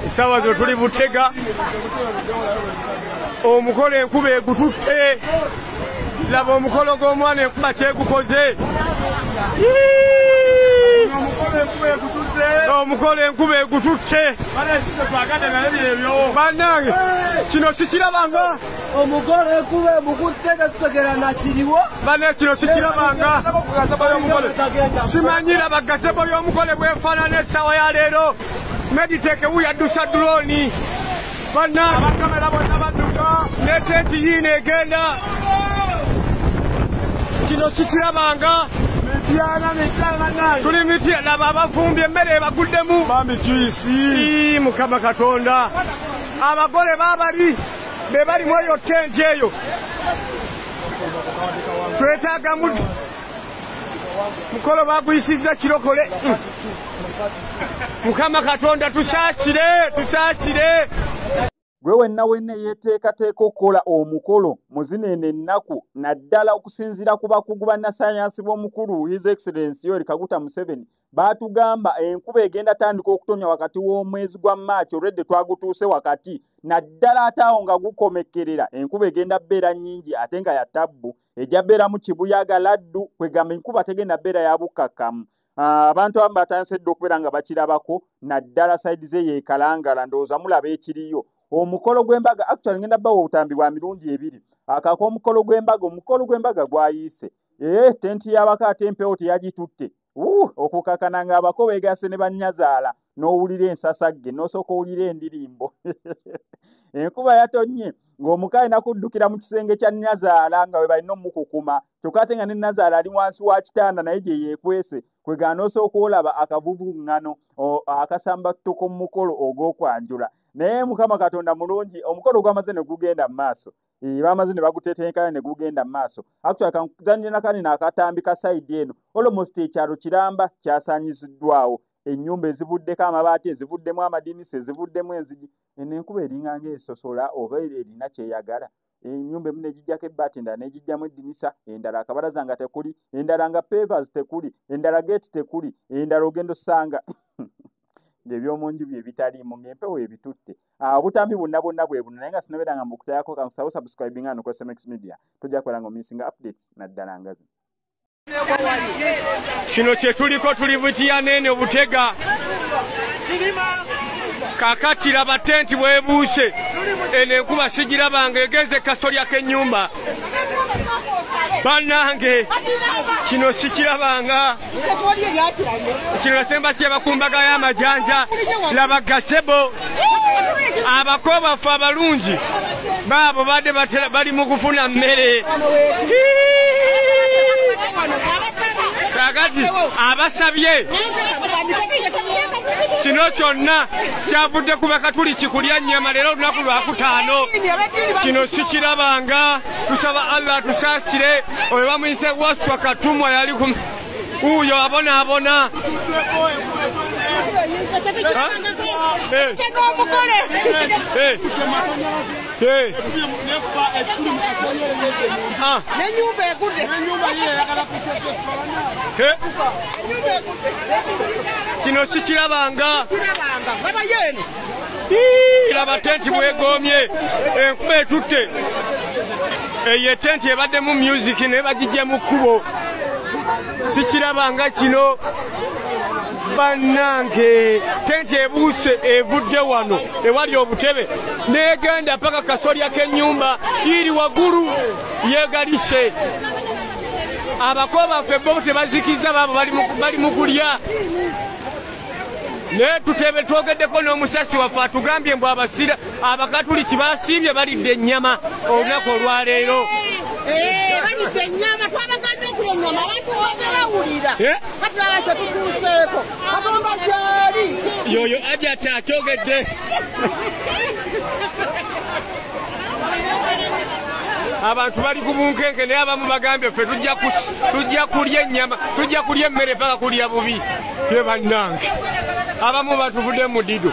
essaawa zino tuli butega omukola enkuba egututte laba omukolo gw'omwana enkuba kyegukoze omukolo enkuba egututte banange kino sikirabanga omugole kuba mukutte tetutegera nakiriwo bane kino sikirabanga simanyira bagasebo y'omugole bwefaanana essaawa ya leero mediteke wuyadusa dulooni Banna abakamera bonna badduka ne tenti yiino egenda kino sikirabanga mityana mityana bannange tuli mitya laba abavumbye emmere ebaguddemu bambi juisi mukama katonda abagole babali be bali mu eyo tenti eyo twetaaga mu mukolo baguyisizza kirokole mukama katonda tusaasire tusaasire gwe wenna wenna eyeteekateeka okukola omukolo mu zino eno ennaku naddala okusinziira ku bakugu bannasayansi b'omukulu his excellence yoeri kaguta museveni baatugamba enkuba egenda tandika okutonya wakati w'omwezi gwa maaci olwedde twagutuuse wakati naddala ate awo nga gukomekkerera enkuba egenda beera nnyingi ate nga ya tabbu ejja beeramu kibuyaga laddu kwegamba enkuba tegenda beera yabukkakkamu ah, abantu abamu batandise dda okubeera nga bakirabako naddala saidi ze yeekalangala ndowooza mulaba ekiriyo omukolo gw'embaga actual ngenda bawa obutambi bwa mirundi ebiri akaka omukolo gw'embaga omukolo gw'embaga gwayiise ee eh, tenti y'abako ate empewo teyagitutte uh, okukakana ng'abako beegasse ne bannyazaala n'owulira ensasagge n'osooka owulira endirimbo enkuba yatonnye ng'omuka alina kuddukira mu kisenge kya nnazaala nga we balina omukukuma kyokka ate nga ne nnazaala ali wansi wa kitanda naye gye yeekwese kwe gaana osooka olaba akavuvuŋŋano akasamba tutuko mu mukolo ogw'okwanjula naye mukama katonda mulungi omukolo gwamaze ne gugenda mu maaso bamaze ne bagutetenkana ne gugenda maaso actually kanzanire nakani nakatambi ka side eno almost ekyalo kiramba kyasanyiziddwawo ennyumba ezivuddeko amabaati ezivuddemu amadinisa ezivuddemu enzigi eno enkuba eringa ngaesosola oba erina kyeyagala ennyumba emu negijjako ebbaati endala negijjamu eddinisa endala akabalaza nga tekuli endala nga pavers tekuli endala geeti tekuli endala ogenda osanga ngaebyomunju byebitaliimu ngaempewo ebitutte Ah, obutambi bwonna bwonna bwe buno naye nga sinabeera nga mbukutayako kankusawo subscribing ano ku smx media tojja kubeera nga omisinga updates naddala nga zino kino kyetuliko tuli butiyaneene obutega kakatira batenti bwebuuse eno enkuba sigirabanga egenze kasolya k'ennyumba bannange kino sikirabanga kino nasemba kyeba ku mbaga y'amajanja laba gasebo abako baffe abalungi baabo badde bali mu kufuna mmere kakati abasabye kino kyonna kyavudde ku bakatuli kikulya nnyama leero olunaku lwakutaano kino sikirabanga tusaba allah atusaasire oyo bamuyise waswa katumwa yali ku uyo abona abona nenyumba egude kino sikirabanga laba tenti bwegoomye enkuba etutte eyo etenti ebaddemu music naye bagijja mu kkubo sikiraba nga kino bannange tenti ebuuse evudde wano ewali obutebe negenda paka kasolya k'ennyumba iri waggulu yegalise abako baffe bo tebazikizza baabo bali mu kulya naye tutebe twogeddeko n'omusasi waffe atugambye mbu abasira abakatuliki basiibye balidde ennyama olunaku olwaleero eh, balidde ennyama twabagambye oku ennyama abantu wabawulira eh? katulaba kye tutuuseeko katonda gyali yoyo ajati akyogedde abantu bali ku bunkenke naye abamu bagambye ffe tujja kulya ennyama tujja kulya emmere paka kulya bubi ye bannange abamu batuvudde mu dido